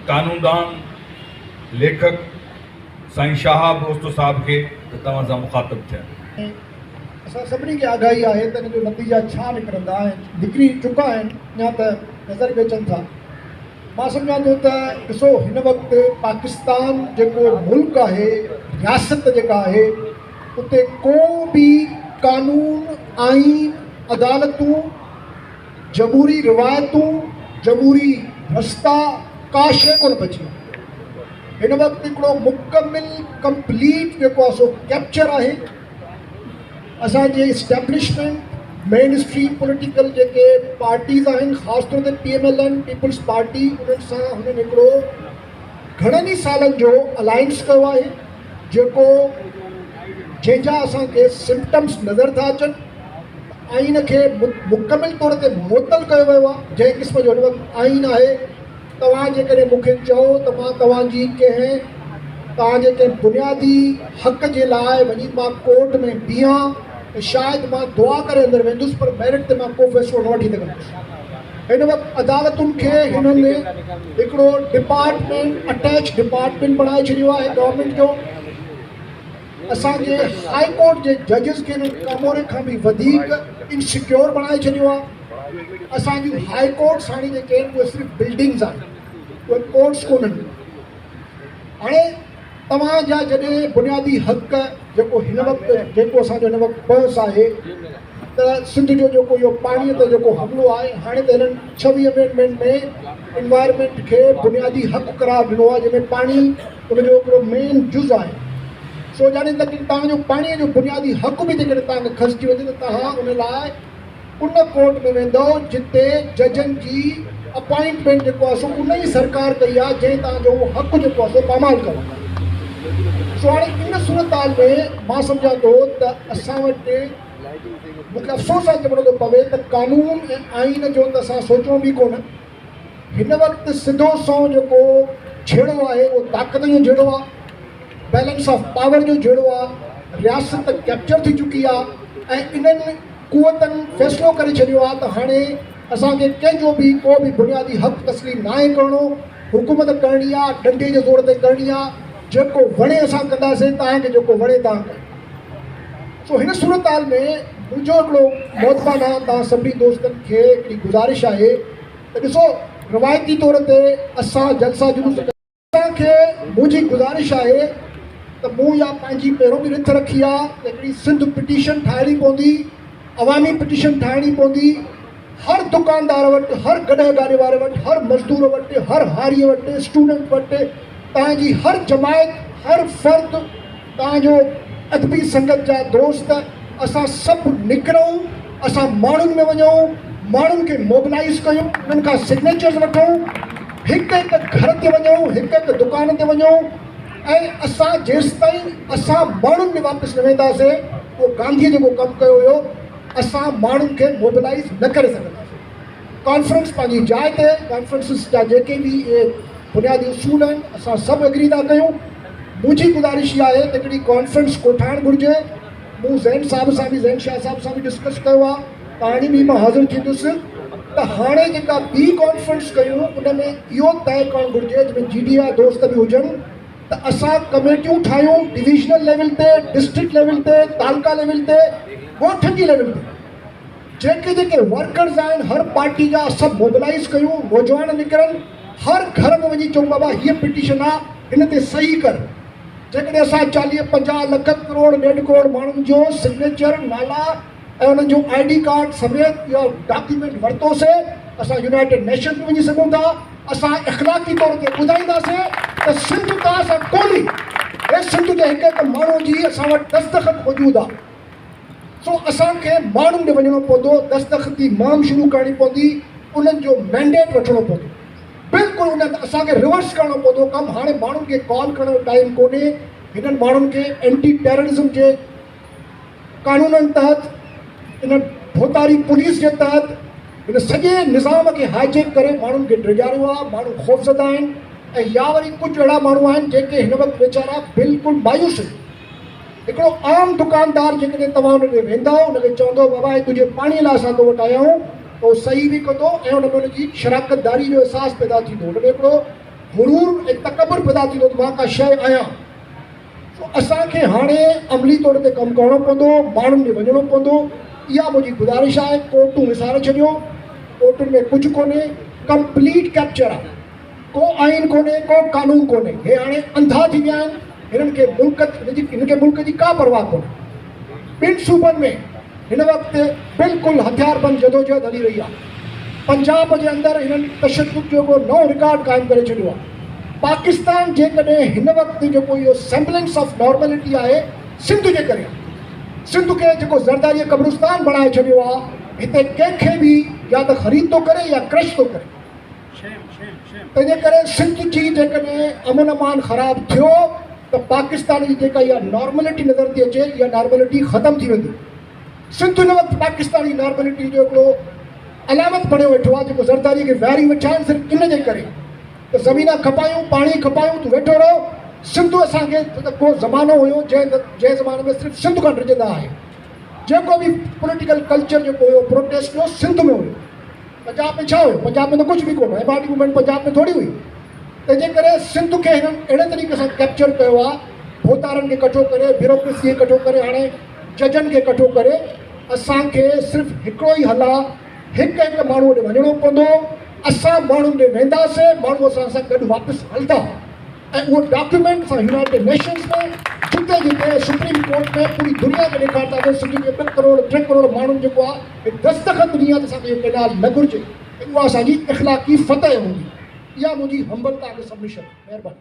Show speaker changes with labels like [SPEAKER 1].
[SPEAKER 1] قانوندان، ليکڪ سائين شهاب اوچتو صاحب کي ته توهان سان مخاطب ٿين. اسان
[SPEAKER 2] سڀني کي آگاهي آهي ته ان جو نتيجا ڇا نڪرندا ۽ نڪري چڪا آهن يا ته نظر به اچن ٿا. مان سمجهان ٿو ته ڏسو هن وقت پاڪستان جيڪو ملڪ آهي، رياست جيڪا آهي اتي ڪو به قانون، آئين، عدالتون، جمهوري روايتون، جمهوري رستا ڪا شيء ڪونه بچي آهي. هن وقت هڪڙو مڪمل ڪمپليٽ جيڪو آهي سو ڪيپچر آهي. اسان جي اسٽيبلشمينٽ، مين اسٽريم پوليٽيڪل جيڪي پارٽيز آهن خاص طور تي P M L N, Peoples Party انهن سان هنن هڪڙو گهڻن ئي سالن جو الائنس ڪيو آهي جيڪو جنهن جا اسان کي سمپٽمز نظر ٿا اچن. آئين کي مڪمل طور تي معطل ڪيو ويو آهي، جنهن قسم جو هن وقت آئين آهي، توهان جيڪڏهن مون کي چئو ته مان توهان جي ڪنهن توهان جي ڪنهن بنيادي حق جي لاء وڃي مان ڪورٽ ۾ بيهان ته شايد مان دعا ڪري اندر ويندس پر ميرٽ تي مان ڪو فيصلو نه وٺي سگهندس. هن وقت عدالتن کي هنن هڪڙو ڊپارٽمينٽ اٽيچ ڊپارٽمينٽ بڻائي ڇڏيو آهي گورنمينٽ جو. اسان جي هاء ڪورٽ جي ججز کي به ڪاموري کان به وڌيڪ ان سيڪيور بڻائي ڇڏيو آ اسان جون هاء ڪورٽس هاڻي جيڪي آهن اهي صرف بلڊنگز آهن اهي ڪورٽس ڪونهن هاڻي توهان جا جڏهن بنيادي حق جيڪو هن وقت جيڪو اسان جو هن وقت بحث آهي ته سنڌ جو جيڪو اهو پاڻي تي جيڪو حملو آهي هاڻي ته هنن ڇويهه امينڊمينٽ ۾ انوائرمينٽ کي بنيادي حق قرار ڏنو آهي جنهن ۾ پاڻي ان جو هڪڙو مين جز آهي. سو يعني ته توهان جو پاڻي جو بنيادي حق به جيڪڏهن توهان کي کسجي وڃي ته توهان ان لاء ان ڪورٽ ۾ ويندئو جتي ججن جي اپائنٽمينٽ جيڪو آهي سو ان ئي سرڪار ڪئي آهي جنهن توهان جو اهو حق جيڪو آهي سو پامال ڪيو آهي. سو هاڻي ان صورتحال ۾ مان سمجهان ٿو ته اسان وٽ مون کي افسوس آهي چوڻو ٿو پوي ته قانون ۽ آئين جو ته اسان سوچيون به ڪونه هن وقت سڌو سنئون جيڪو جهيڙو آهي اهو طاقت جو جهيڙو آهي، بيلنس آف پاور جو جهيڙو آهي، رياست ڪيپچر ٿي چڪي آهي ۽ انهن قوتن فيصلو ڪري ڇڏيو آهي ته هاڻي اسان کي ڪنهن جو به ڪو به بنيادي حق تسليم ناهي ڪرڻو، حڪومت ڪرڻي آهي ڏنڊي جي زور تي ڪرڻي آهي، جيڪو وڻي اسان ڪنداسين، توهان کي جيڪو وڻي توهان ڪيو. سو هن صورتحال ۾ منهنجو هڪڙو مؤدبانه توهان سڀني دوستن کي هڪڙي گذارش آهي ته ڏسو روايتي طور تي اسان جلسا جلوس ڪندا آهيون. توهان کي منهنجي گذارش آهي ته مون اها پنهنجي پهرون به رٿ رکي آهي ته هڪڙي سنڌ پٽيشن ٺاهڻي پوندي، عوامي پٽيشن ٺاهڻي پوندي، هر دڪاندار وٽ، هر گڏهه گاڏي واري وٽ، هر مزدور وٽ، هر هاري وٽ، اسٽوڊنٽ وٽ، توهان جي هر جماعت، هر فرد، تان جو ادبي سنگت جا دوست اسان سڀ نڪرون، اسان ماڻهن ۾ وڃون، ماڻهن کي موبلائيز ڪيون، انهن کان سگنيچرز وٺون، هڪ هڪ گهر تي وڃون، هڪ هڪ دڪان تي وڃون ۽ اسان جيستائين اسان ماڻهن ۾ واپس نه وينداسين، اهو گانڌيء جيڪو ڪم ڪيو هيو، اسان ماڻهن کي موبلائيز نه ڪري سگهنداسين. ڪانفرنس پنهنجي جاء تي ڪانفرنسز جا جيڪي به اهي بنيادي اصول آهن اسان سڀ اگري ٿا ڪيون منهنجي گذارش اها آهي ته هڪڙي ڪانفرنس ڪوٺائڻ گهرجي مون زين صاحب سان به زين شاهه صاحب سان به ڊسڪس ڪيو آهي ته هاڻي به مان حاضر ٿيندس ته هاڻي جيڪا ٻي ڪانفرنس ڪيون ان ۾ اهو طئي ڪرڻ گهرجي جنهن ۾ جي ڊي آء دوست به هجن ته اسان ڪميٽيون ٺاهيون ڊويزنل ليول تي ڊسٽرڪٽ ليول تي تعلقا ليول تي ڳوٺن جي ليول تي جيڪي جيڪي ورڪرز آهن هر پارٽي جا سڀ موبلائيز ڪيون نوجوان نڪرن هر گهر ۾ وڃي چئون بابا هيء پٽيشن آ هن تي صحيح ڪر جيڪڏهن اسان چاليهه پنجاهه لک ڪروڙ ڏيڍ ڪروڙ ماڻهن جو سگنيچر نالا ۽ انهن جو آئي ڊي ڪارڊ سميت اهو ڊاڪيومينٽ ورتو سي اسان يونائيٽيڊ نيشنز به وڃي سگهون ٿا اسان اخلاقي طور تي ٻڌائيندا سي ته سنڌ توهان سان ڪونهي هي سنڌ جي هڪ هڪ ماڻهو جي اسان وٽ دستخط موجود آ. سو اسان کي ماڻهن ڏي وڃڻو پوندو، دستخطي مهم شروع ڪرڻي پوندي، انهن جو مينڊيٽ وٺڻو پوندو. بلڪل ان هنڌ اسان کي ريورس ڪرڻو پوندو ڪم، هاڻي ماڻهن کي ڪال ڪرڻ جو ٽائيم ڪونهي، هنن ماڻهن کي اينٽي ٽيررزم جي قانونن تحت، ان ڀوتاري پوليس جي تحت، هن سڄي نظام کي هائي جيڪ ڪري ماڻهن کي ڊيڄاريو آهي، ماڻهو خوفزده آهن ۽ يا وري ڪجهه اهڙا ماڻهو آهن جيڪي هن وقت ويچارا بلڪل مايوس آهن. هڪڙو عام دڪاندار جيڪڏهن توهان ان ڏي ويندا ان کي چوندو بابا هي تنهنجي پاڻي لاء اسان تو وٽ آيا آهيون ته هو صحيح به ڪندو ۽ ان ۾ ان جي شراڪتداري جو احساس پيدا ٿيندو ان ۾ هڪڙو غرور ۽ تڪبر پيدا ٿيندو ته مان ڪا شيء آهيان سو اسان کي هاڻي عملي طور تي ڪم ڪرڻو پوندو ماڻهن ڏي وڃڻو پوندو اها منهنجي گذارش آهي ڪورٽون وساري ڇڏيو ڪورٽن ۾ ڪجهه ڪونهي ڪمپليٽ ڪيپچر آهي. ڪو آئين ڪونهي ڪو قانون ڪونهي هي هاڻي انڌا ٿي ويا آهن هنن کي ملڪ هنن کي ملڪ جي ڪا پرواهه ڪونهي ٻن صوبن ۾ هن وقت بلڪل هٿياربند جدوجهد هلي رهي آهي پنجاب جي اندر هنن تشدد جو ڪو نئون رڪارڊ قائم ڪري ڇڏيو آهي پاڪستان جيڪڏهن هن وقت جيڪو اهو سيمبلنس آف نارملٽي آهي سنڌ جي ڪري سنڌ کي جيڪو زرداري قبرستان بڻائي ڇڏيو آهي هتي ڪنهن کي به يا ته خريد ٿو ڪري يا ڪرش ٿو ڪري تنهنجي ڪري سنڌ جي جيڪڏهن امن امان خراب ٿيو ته پاڪستان جي جيڪا اها نارملٽي نظر ٿي اچي اها نارملٽي ختم ٿي ويندي سنڌ هن وقت پاڪستان جي نارملٽي جو هڪڙو علامت بڻيو ويٺو آهي جيڪو زرداري کي ويهاري ويٺا آهن صرف ان جي ڪري ته زمينا کپايون پاڻي کپايون تون ويٺو رهو سنڌ اسان کي ڪو زمانو هيو جنهن جنهن زماني ۾ صرف سنڌ کان ڊڄندا آهي جيڪو به پوليٽيڪل ڪلچر جيڪو هيو پروٽيسٽ جو سنڌ ۾ هيو پنجاب ۾ ڇا هيو؟ پنجاب ۾ ته ڪجهه به ڪونه. M R D movement Punjab ۾ ٿوري هئي. تنهنجي ڪري سنڌ کي هنن اهڙي طريقي سان ڪيپچر ڪيو آ. ڀوتارن کي ڪٺو ڪري، بيوروڪريسي کي ڪٺو ڪري، هاڻي ججن کي ڪٺو ڪري. اسان کي صرف هڪڙو ئي حل آ، هڪ هڪ ماڻهوء ڏي وڃڻو پوندو. اسان ماڻهن ڏي وينداسين، ماڻهو اسان سان گڏ واپس هلندا. ۽ اهو ڊاڪيومينٽ اسان يونائيٽيڊ نيشنز ۾ جتي جتي سپريم ڪورٽ ۾ پوري دنيا کي ڏيکارتاسين سنڌ جي ٻه ڪروڙ ٽي ڪروڙ ماڻهن جيڪو آ هي دستخط ڏني آ ته اسان کي اهو ڪينال نه گهرجي ۽ اها اسان جي اخلاقي فتح هوندي اها منهنجي همبلتا کي سبمشن مهرباني.